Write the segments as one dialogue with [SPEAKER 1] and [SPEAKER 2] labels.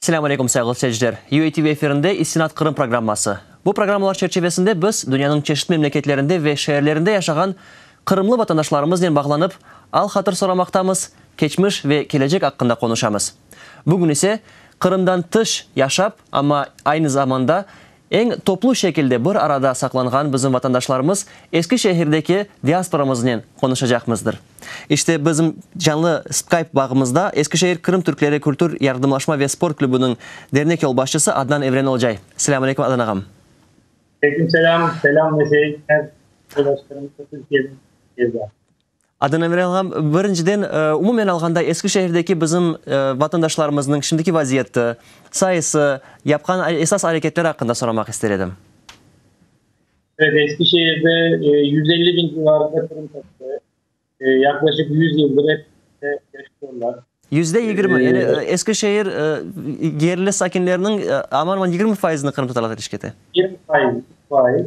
[SPEAKER 1] Selâm aleykum, sayğılı seyirciler! UATV efirinde İstinad Qırım programması. Bu programmalar çerçivesinde biz dünyanıñ çeşit memleketlerinde ve şeerlerinde yaşağan qırımlı vatandaşlarımıznen bağlanıp, al-hatır soramaqtamız, keçmiş ve kelecek aqqında qonuşamız. Bugün ise, Qırımdan tış yaşap, amma aynı zamanda Eñ toplu şekilde bir arada saqlanğan bizim vatandaşlarımız Eskişehirdeki diasporamıznen qonuşacaqmızdır. İşte, bizim canlı Skype bağımızda Eskişehir Qırım Türkleri kültür, yardımlaşma ve sport klübüniñ dernek yolbaşçısı Adnan Evren Olcay. Selâm aleyküm, Adnan ağam! Aleyküm
[SPEAKER 2] selâm, selâm Neşe Ejmez yoldaşlarımıza Türkiye'den. Adına
[SPEAKER 1] verelğan, birinciden, umumen alğanda, Eskişehirdeki bizim vatandaşlarımıznıñ şimdiki vaziyeti, sayısı, yapqan esas areketleri aqqında soramaq ister edim.
[SPEAKER 2] Evet, Eskişehirde yüz elli biñ civarında Qırım tatari, yaqlaşıq yüz yıldır hep birlikte yaşayırlar. Yüzde yigirmi,
[SPEAKER 1] yani Eskişehir yerli sakinleriniñ aman-aman yigirmi faizini qırımtatarlar teşkil ete. Yigirmi faiz, faiz.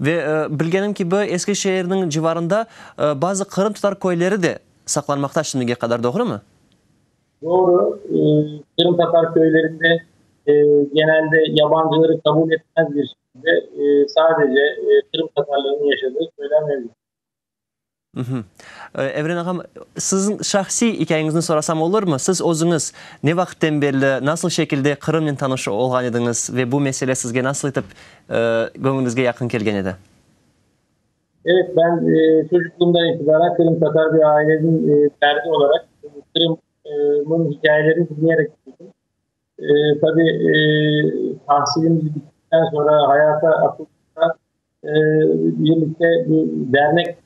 [SPEAKER 2] Ve
[SPEAKER 1] bilgenim kibi, eski şeerniñ civarında bazı qırımtatar köyleri de saqlanmaqta şimdige qadar, doğrumı? Doğru.
[SPEAKER 2] Qırımtatar köylerinde genelde yabancıları qabul etmez bir şekilde sadece qırımtatarların yaşadığı köyler mevcut.
[SPEAKER 1] Evren ağam, siziñ şahsiy ikâyeñizni sorasam olurmı? Siz özüñiz ne vaqıttan berli, nasıl şekilde Qırımnen tanış olğan ediñiz ve bu mesele sizge nasıl etip göñlüñizge yaqın kelgen edi?
[SPEAKER 2] Evet, ben çocuqluğımdan itibaren qırımtatar bir aileniñ ferdi olaraq Qırımnıñ ikâyelerini diñleyerek büyüdim. Tabii, tahsilimiz bitikten soñra hayata atıldığımızda birlikte dernek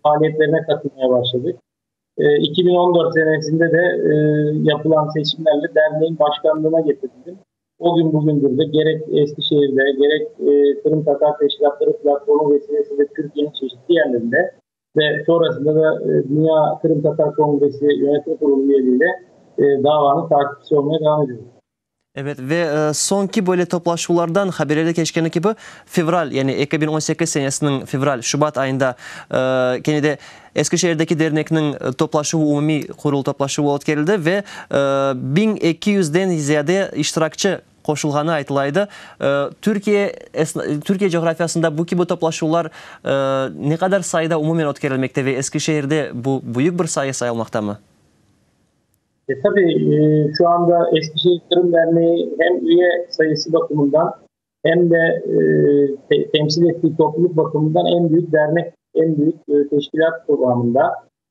[SPEAKER 2] faaliyetlerine qatılmaya başladıq. İki biñ on dört senesinde de yapılan seçimlerle derneğiñ başkanlığına getirildim. O kün bugündir de gerek Eskişehirde, gerek Qırımtatar Teşkilâtları Platformı vesilesiyle Türkiye'nin çeşitli yerlerinde Ve sonrasında da Dünya Qırımtatar Kongresi Yönetim Qurulu üyeliğiyle davanıñ taqipçisi olmaya devam ediyoruz. Evet, ve
[SPEAKER 1] soñki böyle toplaşuvlardan, haberlerde keçkeni kibi, fevral, yani eki biñ on sekiz senesiniñ fevral, şubat ayında kene de Eskişehirdeki dernekniñ toplaşuvı, umumiy qurul toplaşuvı ötkerildi ve biñ eki yüzden ziyade iştirakçi qoşulğanı aytıla edi. Türkiye Türkiye coğrafiyasında bu kibi toplaşuvlar ne qadar sayıda umumen ötkerilmekte ve Eskişehirde bu büyük bir sayı sayılmaqtamı? Tabii,
[SPEAKER 2] şu anda Eskişehir Derneği hem üye sayısı bakımından hem de temsil ettiği topluluk bakımından en büyük dernek, en büyük teşkilât kıvamında.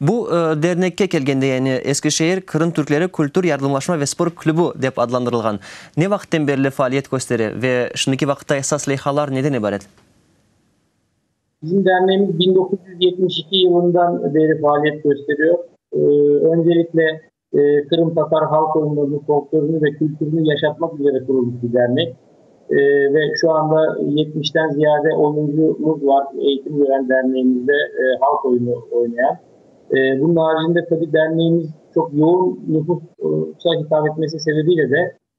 [SPEAKER 1] Bu dernekke kelgende, yani Eskişehir Qırım Türkleri Kültür yardımlaşma ve spor klübü dep adlandırılğan, ne vaqıtten berli faaliyet köstere ve şimdiki vaqıtta esas leyhalar neden ibaret?
[SPEAKER 2] Bizim dernemiz biñ doquz yüz yetmiş iki yılından beri faaliyet kösteriyor. Öncelikle Qırımtatar halq oyunlarını, folklorını ve kültürünü yaşatmak üzere qurulmış bir dernek. Ve şu anda yetmişten ziyade oyuncumuz var, eğitim veren derneğimizde halq oyunu oynayan. Bunun aricinde tabii derneğimiz çoq yoğun nüfusa hitap etmesi sebebiyle de,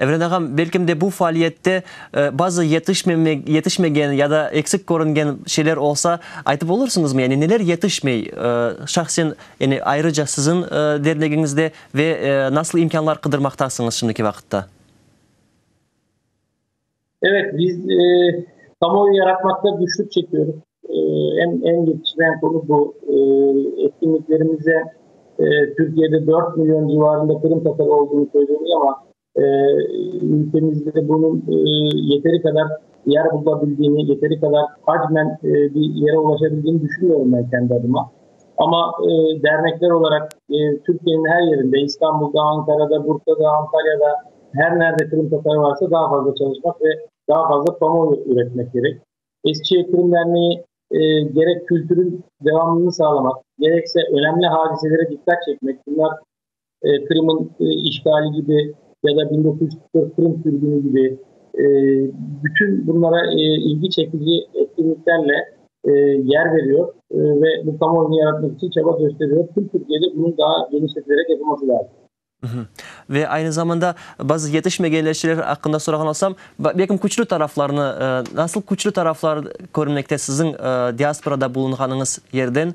[SPEAKER 1] Evren ağam, belkim de bu faaliyette bazı yetişmegen ya da eksik körüngen şeyler olsa aytıp olursıñızmı? Yani neler yetişmey şahsen, yani ayrıca siziñ dernegiñizde ve nasıl imkânlar qıdırmaqtasıñız şimdiki vaqıtta?
[SPEAKER 2] Evet, biz kamuoyu yaratmaqta güçlük çekiyoruz. Eñ yetişmeyen konu bu. Etkinliklerimizde Türkiyede dört milyon civarında qırımtatar olduğını söylüyoruz, amma ülkemizde bunıñ yeteri qadar yer bulabildiğini, yeteri qadar hacmen bir yere ulaşabildiğini düşünmüyorum ben kendi adıma. Amma dernekler olaraq Türkiyeniñ her yerinde, İstanbulda, Ankarada, Bursada, Antalyada, her nerde qırımtatar varsa daa fazla çalışmaq ve daa fazla kamuoyu üretmek kerek. Eskişehir Qırım Derneği gerek kültürün devamlılığını sağlamaq, gerekse önemli hadiselere diqqat çekmek, bunlar Qırım'ın işğali kibi ya da biñ dokuz yüz qırq dört Qırım sürgünü kibi bütün bunlara ilgi çekici etkinliklerle yer veriyor ve bu kamuoyunu yaratmak içün çaba kösteriyor. Tüm Türkiye'de bunun daa genişletilerek yapılması lâzım. Ve
[SPEAKER 1] aynı zamanda bazı yetişmegenler şeyler aqqında sorağan olsam, belki küçlü taraflarını, nasıl küçlü taraflar körmekte siziñ diasporada bulunğanıñız yerden,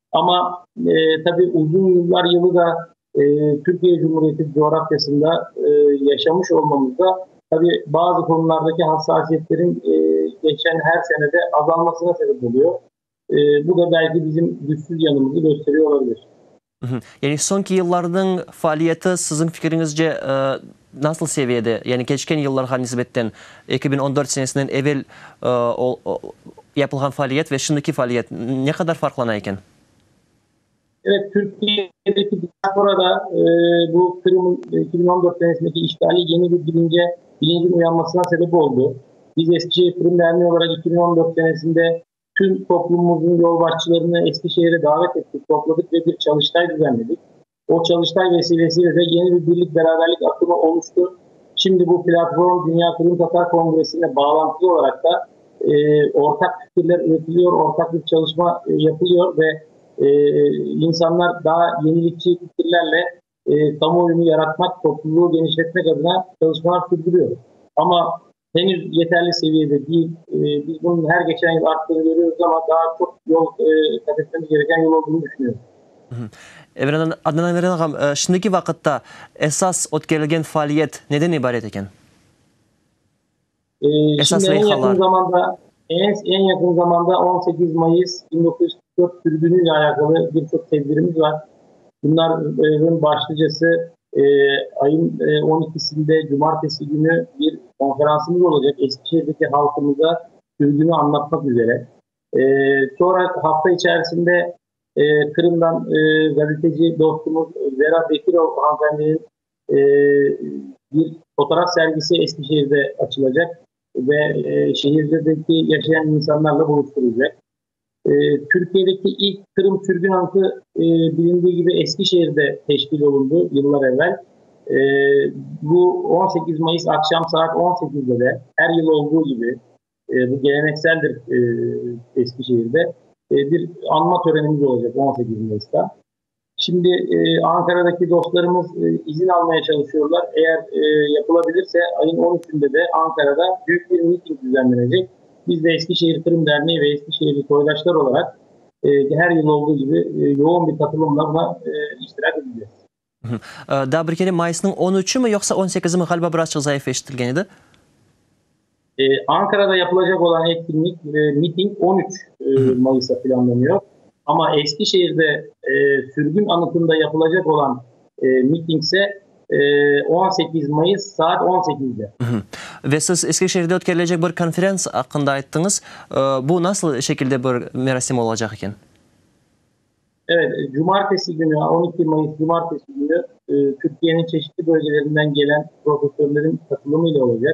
[SPEAKER 2] Amma, tabi, uzun yıllar yılı da Türkiye Cumhuriyeti coğrafyasında yaşamış olmamızda, tabi, bazı konulardaki hassasiyetlerin keçen her senede azalmasına sebep oluyo. Bu da belki bizim güçsüz yanımızı gösteriyo olabilir. Yani,
[SPEAKER 1] soñki yıllarnıñ faaliyeti, siziñ fikiriñizce, Nasıl seviyede, yani keçken yıllarğa nisbetten, eki biñ on dört senesinden evel yapılğan faaliyet ve şimdiki faaliyet ne qadar farqlana eken?
[SPEAKER 2] Evet, Türkiyedeki diasporada bu Qırım'ın eki biñ on dört senesindeki işğali yeni bir bilince, bilincin uyanmasına sebep oldı. Biz Eskişehir Qırım Derneği olarak eki biñ on dört senesinde tüm toplumumızın yolbaşçılarını Eskişehir'e davet ettik, topladık ve bir çalıştay düzenledik. O, Çalıştay vesilesiyle de yeni bir birlik-beraberlik akımı oluştu. Şimdi bu platform Dünya Qırımtatar Kongresiyle bağlantılı olaraq da ortaq fikirler üretiliyor, ortaq bir çalışma yapılıyor ve insanlar daa yenilikçi fikirlerle kamuoyunu yaratmak, topluluğı genişletmek adına çalışmalar sürdürüyor. Amma Henüz yeterli seviyede değil. Biz bunun her geçen yıl arttığını görüyoruz ama daa çoq yol kat etmemiz gereken yol olduğunu düşünüyorum.
[SPEAKER 1] Adnan Emeren ağam, şimdiki vaqıtta esas ötkerilgen faaliyet neden ibaret eken? Esas leyhalar.
[SPEAKER 2] Eñ yaqın zamanda on sekiz mayıs bin doquz yüz qırq dört sürgünüyle alâqalı bir çoq tedbirimiz var. Bunların başlıcası Ayın on ikisinde, cumartesi künü bir konferansımız olacaq Eskişehirdeki halqımıza sürgüni anlatmaq üzere. Sonra hafta içerisinde Qırımdan gazeteci dostumuz Vera Bekirova hanımefendinin bir fotoğraf sergisi Eskişehirde açılacaq ve şehirdeki yaşayan insanlarla buluşturılacaq. Türkiyedeki ilk Qırım sürgün ankı bilindiği kibi Eskişehirde teşkil olundı yıllar evvel. Bu on sekiz mayıs aqşam saat on sekizde de her yıl olduğu kibi bu gelenekseldir Eskişehirde bir anma törenimiz olacaq on sekiz mayısta. Şimdi Ankaradaki dostlarımız izin almaya çalışıyorlar. Eğer yapılabilirse ayın on üçünde de Ankarada büyük bir miting düzenlenecek. Biz de Eskişehir Qırım Derneği ve Eskişehirli soydaşlar olarak her yıl olduğu gibi yoğun bir katılımla buna iştirak edeceğiz.
[SPEAKER 1] Daa bir kere, mayısnıñ on üçü mü, yoqsa on sekizi mi? Ğaliba birazçıq zayıf eşitilgen edi.
[SPEAKER 2] Ankarada yapılacaq olan etkinlik, miting on üç mayısta planlanıyor, amma Eskişehirde sürgün anıtında yapılacaq olan mitingse on sekiz mayıs saat on sekizde. Ve siz
[SPEAKER 1] Eskişehirde ötkerilecek bir konferans aqqında ayttıñız. Bu nasıl şekilde bir merasim olacaq eken?
[SPEAKER 2] Evet, cumartesi günü, on iki mayıs cumartesi günü Türkiyeniñ çeşitli bölgelerinden gelen profesörlerin qatılımıyla olacaq.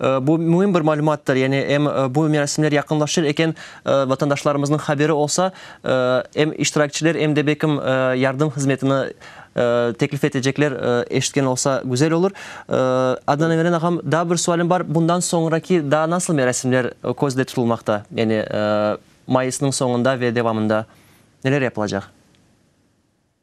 [SPEAKER 1] Bu müim bir malümattır, yani em bu merasimler yaqınlaşır eken vatandaşlarımıznıñ haberi olsa, em iştirakçiler, em de belkim yardım hızmetini teklif etecekler, eşitken olsa güzel olur. Adnan Emeren ağam, daa bir sualim bar, bundan soñraki daa nasıl merasimler közde tutulmaqta, yani mayısnıñ soñunda ve devamında neler yapılacaq?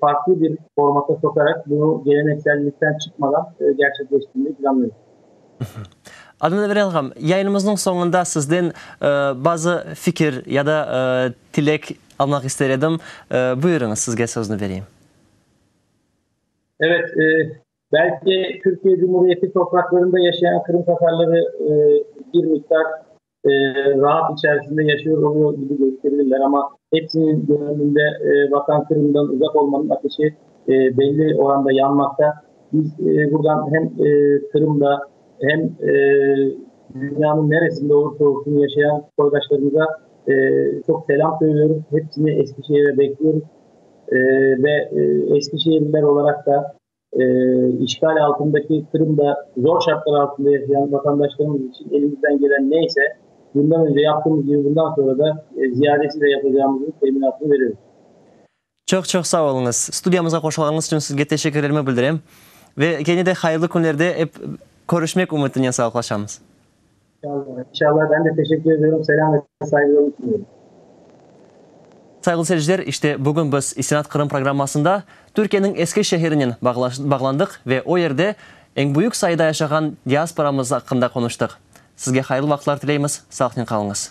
[SPEAKER 2] farqlı bir formata soqarak bunı geleneksellikten çıqmadan gerçekleştirmeyi planlıyoruz.
[SPEAKER 1] Adnan Övrelgam, yayınımıznıñ soñunda sizden bazı fikir ya da tilek almaq ister edim. Buyurıñız, sizge sözni bereyim.
[SPEAKER 2] Evet, belki Türkiye Cumhuriyeti topraklarında yaşayan Qırımtatarları bir miqdar Rahat içerisinde yaşıyor oluyor kibi gösterirler, amma hepsiniñ gönlünde Vatan Qırım'dan uzaq olmanıñ ateşi belli oranda yanmaqta. Biz buradan hem Qırım'da, hem dünyanıñ neresinde olursa olsun yaşayan soydaşlarımıza çoq selam söylüyoruz, hepsini Eskişehir'e bekliyoruz ve eskişehirliler olaraq da, İşğal altındaki Qırımda zor şartlar altında yaşayan vatandaşlarımız içün elimizden gelen ne ise, bundan önce yaptığımız kibi bundan soñra da ziyadesiyle yapacağımızın teminatını veriyoruz. Çoq-çoq
[SPEAKER 1] sağ oluñız. Studiyamızğa qoşulğanıñız içün sizge teşekkürlerimi bildirem. Ve kene de hayırlı künlerde ep körüşmek ümütinen sağlıqlaşamız.
[SPEAKER 2] İnşallah, ben de teşekkür ediyorum. Selam ve saygılarımı
[SPEAKER 1] sunuyorum. Sayğılı seyirciler, işte bugün biz İstinad Qırım programmasında Türkiyeniñ Eski Şehrinen bağlandıq ve o yerde eñ büyük sayıda yaşağan diasporamız aqqında qonuştıq. Sizge hayırlı vaqıtlar tileymiz, sağlıqnen qalıñız.